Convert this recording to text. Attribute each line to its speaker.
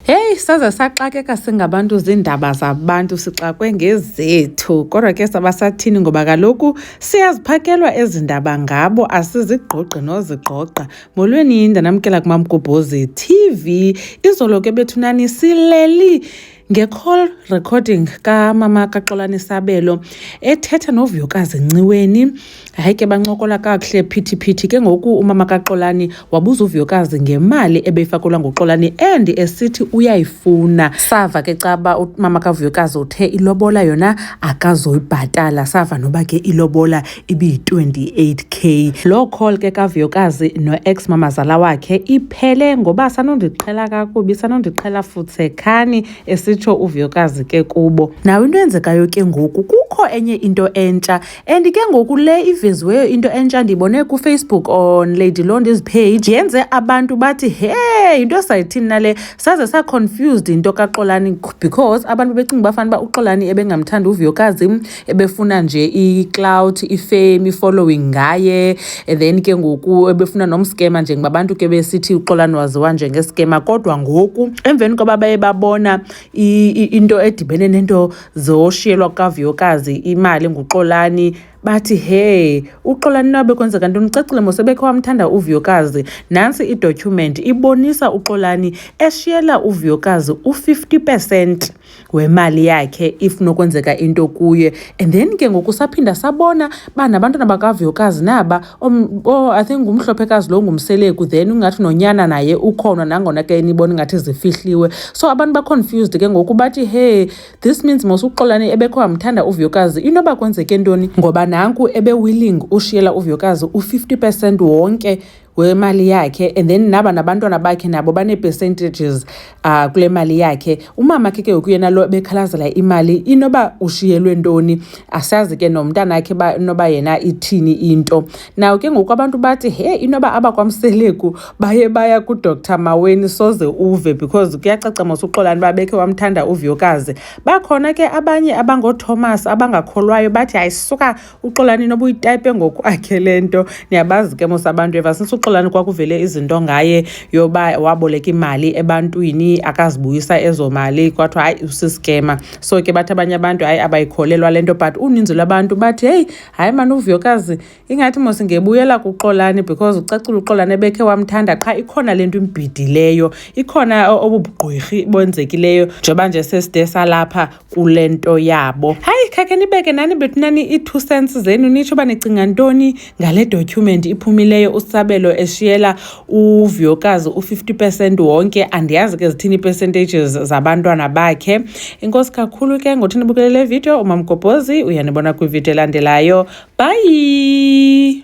Speaker 1: Heyi, saze saxakeka singabantu ziindaba zabantu sixakwe ngezethu kodwa ke sabasathini ngoba kaloku siyaziphakelwa ezi ndaba ngabo asizigqogqi nozigqogqa molweni ndanamkela kumamgubhozi tv izolo ke bethunani sileli nge-call recording kamama kaxolani sabelo ethetha novuyokazi nciweni Hayi ke bancokola kakuhle phithiphithi. Ke ngoku umama kaXolani wabuza uVuyokazi ngemali ebeyifakelwa nguXolani and esithi uyayifuna. Sava ke caba umama kaVuyokazi uthe ilobola yona akazoyibhatala. Sava noba ke ilobola ibiyi-28 k. Loo call ke kaVuyokazi no-ex mamazala wakhe iphele ngoba sanondiqhela kakubi sanondiqhela futsekhani esitsho uVuyokazi ke kubo. Nawe into eyenzekayo ke ngoku kukho enye into entsha and ke ngoku le iveziweyo into entsha ndiyibone kufacebook on lady londi's page yenze abantu bathi he yinto esayithini nale saze saconfused yinto kaxolani because abantu becinga bafana uba uxolani ebengamthanda uvuyokazi ebefuna nje iclout ifame ifollowing ngaye and then ke ngoku ebefuna nomskema njengoba abantu ke besithi uxolani waziwa njengeskema kodwa ngoku emveni koba baye babona into edibene nento Zoshiyelwa kukavuyokazi imali nguxolani bathi he uxolani nabe kwenzeka ntoni ucacile mosebekhe wamthanda uvuyokazi nantsi idocument ibonisa uxolani eshiyela uvuyokazi u-50 percent wemali yakhe if nokwenzeka into kuye and then ke ngoku saphinda sabona uba nabantwana bakavuyokazi naba Um, oh, I think ngumhlophekazi lo ngumseleku then ungathi nonyana naye ukhona nangona ke nibona ingathi zifihliwe so abantu baconfused ke ngoku bathi hey this means mos uxolani ebekho amthanda uvuyokazi inoba kwenzeke ntoni ngoba nanku ebewilling ushiyela uvuyokazi u-50 percent wonke wemali yakhe and then naba nabantwana bakhe nabo banee-percentages uh, kule mali yakhe umama khe ke ngoku yena lo bekhalazela imali inoba ushiyelwe ntoni asazi ke nomntana wakhe noba yena ithini into naw ke ngoku abantu bathi he inoba abakwamseleku baye baya kudr maweni soze uve because kuyacaca mos uxolani uba bekhe wamthanda uviyokazi bakhona ke abanye abangothomas abangakholwayo bathi hayi suka uxolani noba uyitype ngokwakhe le nto niyabazi ke mos abantu eva since uxolani kwakuvele izinto ngaye yoba waboleka imali ebantwini akazibuyisa ezo mali kwathiwa hayi usiskema so ke bathi abanye abantu hayi abayikholelwa le nto but uninzi lwabantu bathi heyi hayi mani uvuyokazi ingathi mos ngebuyela kuxolani because ucacula uxolani ebekhe wamthanda qha ikhona le nto imbhidileyo ikhona obubugqwirhi bonzekileyo njengoba nje seside salapha kule nto yabo. Hayi khakhe nibeke nani bethu nani ii-two cents zenu nitsho uba nicinga ntoni ngale document iphumileyo usabelo eshiyela uvuyokazi u-fifty percent wonke andiyazi ke zithini ii-percentages zabantwana bakhe inkosi kakhulu ke ngothi nibukele le video umamgobhozi uyanibona kwividiyo elandelayo bhayi